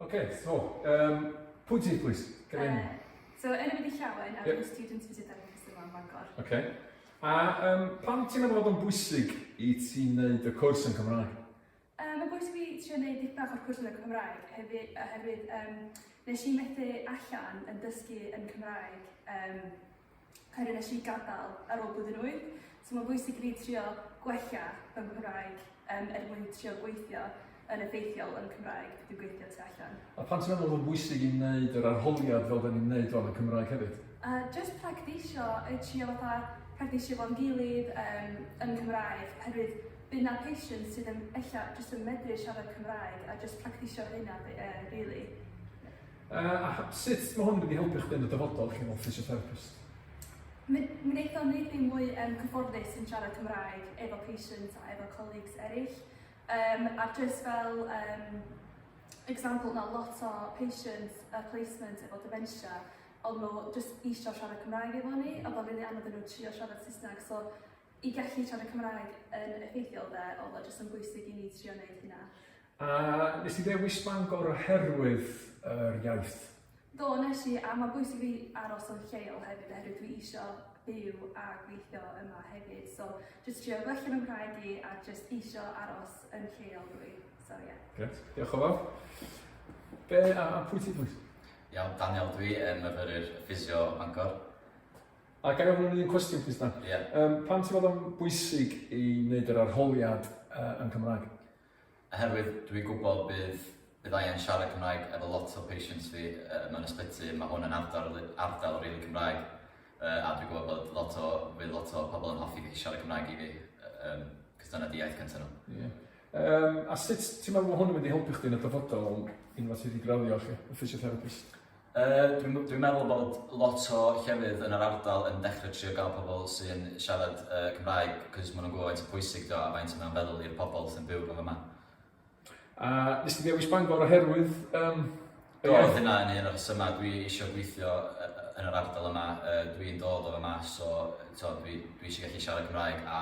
Okay, so, um, pwy ti, please? Come in. Uh, so, enw wedi llawen, a yep. dwi'n student visit ar y Cysur yn Bangor. Okay. A um, pam ti'n meddwl bod o'n bwysig i ti wneud y cwrs yn Cymraeg? Um, mae bwysig fi trio wneud dipyn bach o'r cwrs yn y Cymraeg, hefyd, oherwydd um, nes i methu allan yn dysgu yn Cymraeg um, Cymru a nes i gadael ar ôl blwyddyn wyth. So mae'n bwysig i fi trio gwella fy Nghymraeg um, er mwyn trio gweithio yn effeithiol yn Cymraeg pryd dwi'n gweithio tu allan. A pan ti'n meddwl yn bwysig i wneud yr arholiad fel da ni'n wneud o'n y Cymraeg hefyd? A uh, just practisio, trio fatha practisio fo'n gilydd um, yn Cymraeg, herwydd bydd na patients sydd yn ella jyst yn medru siarad Cymraeg a jyst practisio hynna, uh, really. Uh, a sut mae hwn yn mynd i helpu chdi yn y dyfodol chi fel physiotherapist? Mi wnaethon ni ddim mwy yn cyfforddus yn siarad Cymraeg efo patients a efo colleagues eraill. Um, a just fel um, example, mae lot o patients uh, placement efo dementia, ond nhw just eisiau siarad Cymraeg efo ni, a bod rili anodd yn nhw trio siarad Saesneg. So, i gallu siarad Cymraeg yn effeithiol dde, oedd o just yn bwysig i ni trio wneud hynna. A nes ti ddewis Bangor oherwydd yr iaith? Do, nes i, a mae'n bwysig fi aros yn lleol hefyd oherwydd dwi isio byw a gweithio yma hefyd. So, jyst trio gwella fy Nghymraeg i a jyst isio aros yn lleol dwi. So, ie. Yeah. Gret, diolch o fawr. Be, a, a pwy ti plwyt? Iawn, Daniel dwi yn myfyrir ffisio Bangor. A gael ofyn un cwestiwn plwyt dan? Ie. Yeah. Um, pam ti'n fod o'n bwysig i wneud yr arholiad uh, yn Cymraeg? Oherwydd dwi'n gwybod bydd bydd angen siarad Cymraeg efo lot o patients fi yy mewn ysbyty, ma' hwn yn ardal ri- ardal rili Cymraeg yy a dwi'n gwybod bod lot o fydd lot o pobl yn hoffi gallu siarad Cymraeg i fi yy yym cos dyna di iaith cynta nhw. Ie. Yym a sut ti'n meddwl ma' hwn yn mynd i helpu chdi yn y dyfodol unwaith ti di graddio 'lly y physiotherapist? Yy dwi'n dwi'n meddwl bod lot o llefydd yn yr ardal yn dechre trio ga'l pobol sy'n siarad yy Cymraeg 'c'os ma' nw'n gwbo faint o pwysig 'di o a faint o mae o'n feddwl i'r pobol sy'n byw rŵan yma. A nes di ddewis Bangor oherwydd yym y iaith? Do dyna un o'r rhesyma dwi isio gweithio yy yn yr ardal yma yy dwi'n dod o fama so t'wo' dwi dwi isio gallu siarad Cymraeg a